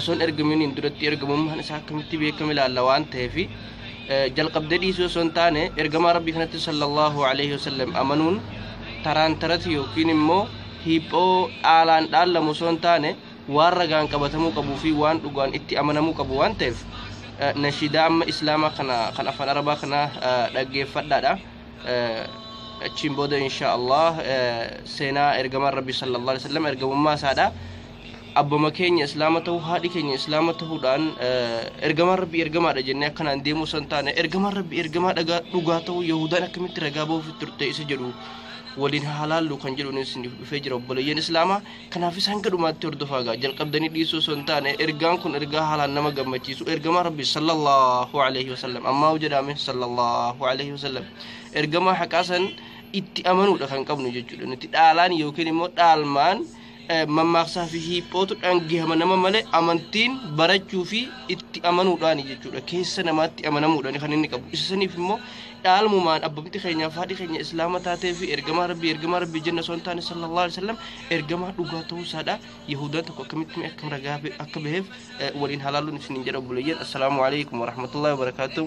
osoon ergaminiin duratti ergamummaan isaa akkamitti beekame ilaalla waan ta'eef jalqabdee dhiisuu osoo hin taane ergamaa rabbii kanatti sallallahu alaihi wasallam amanuun taraan tarati yookiin immoo hiiphoo dhaalaan dhaallamu osoo hin taane waan ragaan qabatamuu qabuu fi waan dhugaan itti amanamuu qabu waan ta'eef nashiidaa amma islaamaa kana kan afaan arabaa kana dhaggeeffadhaadha achiin booda insha allah seenaa ergamaan rabbii sallallahu alaihi wasallam ergamummaa isaadha abbama keenya islaama ta'uu haadhi keenya islaama ta'uudhaan ergamaan rabbi ergamaadha jennee akkanaan deemuu san taane ergamaan rabbi ergamaa dhagaa dhugaa ta'uu yahudaan akkamitti ragaa ba'uuf turte isa jedhu waliin halaallu kan jedhuun isiniif dhufee jira obboleeyyan islaamaa kanaaf isaan gadhumaatti hordofaa gaa jalqabdanii dhiisuu osoo hin taane ergaan kun ergaa haalaan nama gammachiisu ergamaa rabbi sallallahu alaihi wasallam ammaa jedhaame sallallahu alaihi wasallam ergamaa haqaa san itti amanuudha kan qabnu jechuudha nuti dhaalaan yookiin immoo dhaalmaan mammaaksaa fi hiiphootu dhangihama nama malee amantiin barachuu fi itti amanuudhaani jechuudha. Keessa namaatti amanamuudhaani kan inni qabu. Isa saniif immoo dhaalmumaan abbumti keenyaaf haadhi keenya islaama taatee fi ergamaa rabbii ergamaa rabbii jenna osoo hin taane sallallahu alaihi wasallam ergamaa dhugaa ta'uu isaadha. Yahudaan tokko akkamitti akkam ragaa akka baheef waliin halaaluun isiniin jedha obboleeyyan. Assalaamu alaikum warahmatullahi wabarakaatuh.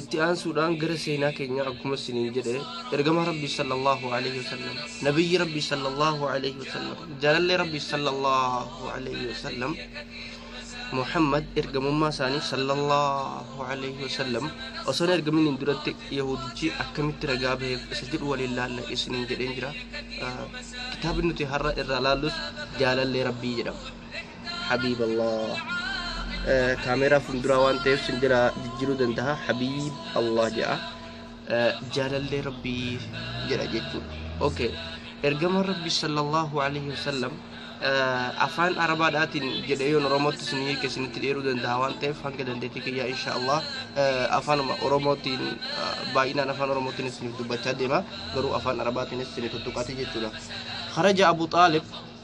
itti aansuudhaan gara seenaa keenyaa akkuma isiniin jedhe ergamaa rabbii sallallahu alaihi wasallam nabiyyi rabbii sallallahu alaihi wasallam jaalallee rabbii sallallahu alaihi wasallam muhammad ergamummaa isaanii sallallahu alaihi wasallam osoo hin ergamin hin duratti yahudichi akkamitti ragaa baheef isa jedhu waliin laalla isiniin jedheen jira kitaabni nuti har'a irraa laallus jaalallee rabbii jedhama habiib Allah kaameeraa funduraa waan ta'eef sin jala jijjiiruu danda'a habiib Allah jedha jaalallee rabbii jedha jechuudha okay ergama rabbi sallallahu alaihi wasallam afaan arabaadhaatiin jedhee yoon oromootti sin hiike sinitti dheeruu danda'a waan ta'eef hanga dandeettii kiyyaa insha Allah afaanuma oromootiin baay'inaan afaan oromootiin isiniif dubbachaa deema garuu afaan arabaatiinis sinii tuttuqaati jechuudha kharaja abu xaalib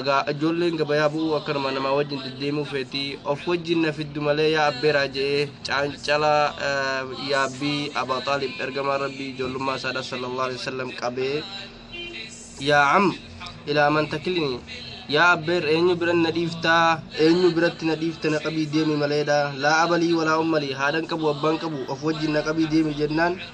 Egaa ijoolleen gabayaa bu'uu akkanuma namaa wajjin deddeemuu feeti. Of wajjin na fiddu malee yaa abbeeraa je'ee caancala yaabbii Abaa Xaalib ergamaa Rabbii ijoollummaa isaadha sallallahu alaihi wasallam qabee yaa am ilaa man takilini yaa abbeer eenyu biran na dhiiftaa eenyu biratti na dhiifta na qabii deemi maleedha laa abalii walaa ummalii haadhan qabu abbaan qabu of wajjin na qabii deemi jennaan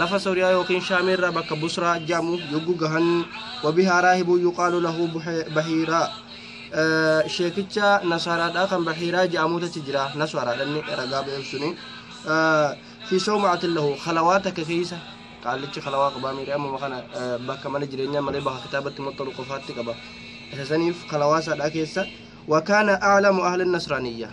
lafa Sooriyaa yookiin Shaamii irraa bakka Busraa jedhamu yogguu gahan wabihaa raahibuu yuqaalu lahu bahiiraa sheekicha nasaaraadhaa kan bahiiraa jedhamuutu achi jira nasaaraadhanni ragaa ba'eef suni fi sawmaatin lahu kalawaa takka keessa qaallichi kalawaa qabaa miidhaa amma kana bakka mana jireenyaa malee bakka kitaabatti maxxanu qofaatti qaba isa saniif kalawaa isaadhaa keessa wakaana aalamu ahli nasraaniyyaa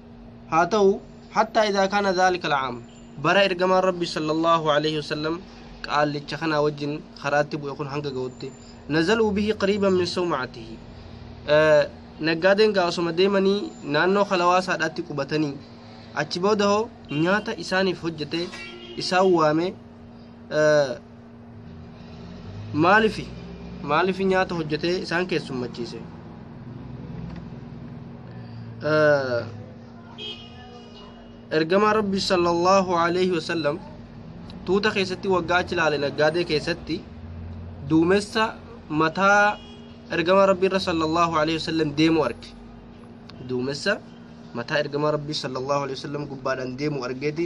haa ta'u hattaa idaa kaana dhaalika alcaam bara ergamaan rabbi sallallahu alaihi wasallam qaallicha kanaa wajjin karaatti bu'e kun hanga ga'utti nazaluu bihi qariiban min sawmacatihi naggaadeen gaa osoma deemanii naannoo kalawaasaadhaatti qubatanii achi booda hoo nyaata isaaniif hojjete isaan waame maalifi maalifi nyaata hojjetee isaan keessummachiise ergamaa rabbi sallallahu alaihi wasallam tuuta keessatti waggaa achi laale naggaadee keessatti duumessa mataa ergamaa rabbi irra sallallahu alaihi wasallam deemu arge duumessa mataa ergamaa rabbi sallallahu alaihi wasallam gubbaadhaan deemu argeeti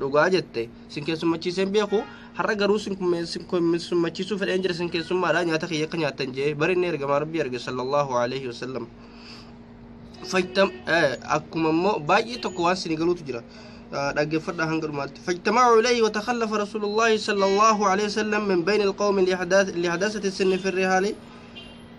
Dhugaa jette sin keessummachiisee hin beeku har'a garuu sin kumme- sin keessummachiisuu fedheen jira sin keessummaadha nyaata kiyya akka nyaattan jee bari inni ergamaa rabbii arge sallallahu alaihi wasallam fajtam eh, akkuma immoo baay'ee tokko waan sin galuutu jira Eh, dhaggeeffadhaa hanga dhumaatti fajtama'u ilayhi watakallafa rasuulullaahi sallallahu alaihi wasallam min bayni alqawmi lihadaasati sinni firri haali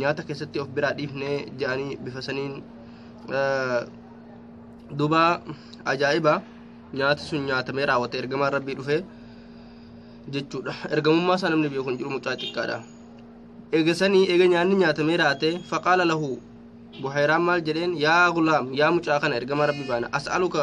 nyaata keessatti of biraa dhiifne ja'anii bifa saniin duuba ajaa'iba nyaati sun nyaatamee raawwate ergamaan rabbii dhufe jechuudha ergamummaa isaa namni beeku hin jiru mucaa xiqqaadha eega sanii eega nyaanni nyaatamee raate faqaala lahu buhayraan maal jedheen yaa gulaam yaa mucaa kana ergamaa rabbii baana as'aluka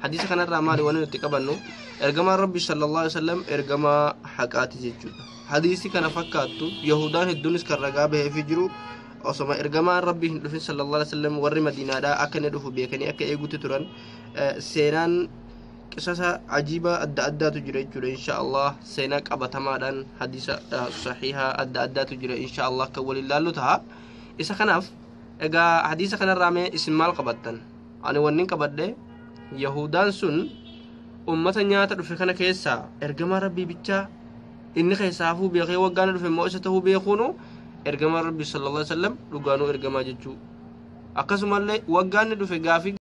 hadiisa kanarraa maali waan nuti qabannu ergamaan rabbi sallallahu alaihi wasallam ergamaa haqaati jechuudha hadiisi kana fakkaattu yahudaan hedduunis kan ragaa baheefi jiru osoma ergamaan rabbi hin dhufin sallallahu alaihi wasallam warri madiinaadhaa akka inni dhufu beekanii akka eegutti turan eh, seenaan qisasa ajiibaa adda addaatu jira jechuudha insha allah seenaa qabatamaadhaan hadiisa eh, sahiihaa adda addaatu jira insha allah kan waliin laallu taha isa kanaaf egaa hadiisa kanarraa mee isin maal qabattan ani wannin qabadhe yahuudaan sun ummata nyaata dhufe kana keessaa ergamaa rabbii bichaa inni keessaa hafuu beekee waggaana dhufe immoo isa ta'uu beekuunu ergamaa rabbii sallallahu alaihi wasallam dhugaanuu ergamaa jechuu akkasumallee waggaanni dhufe gaafii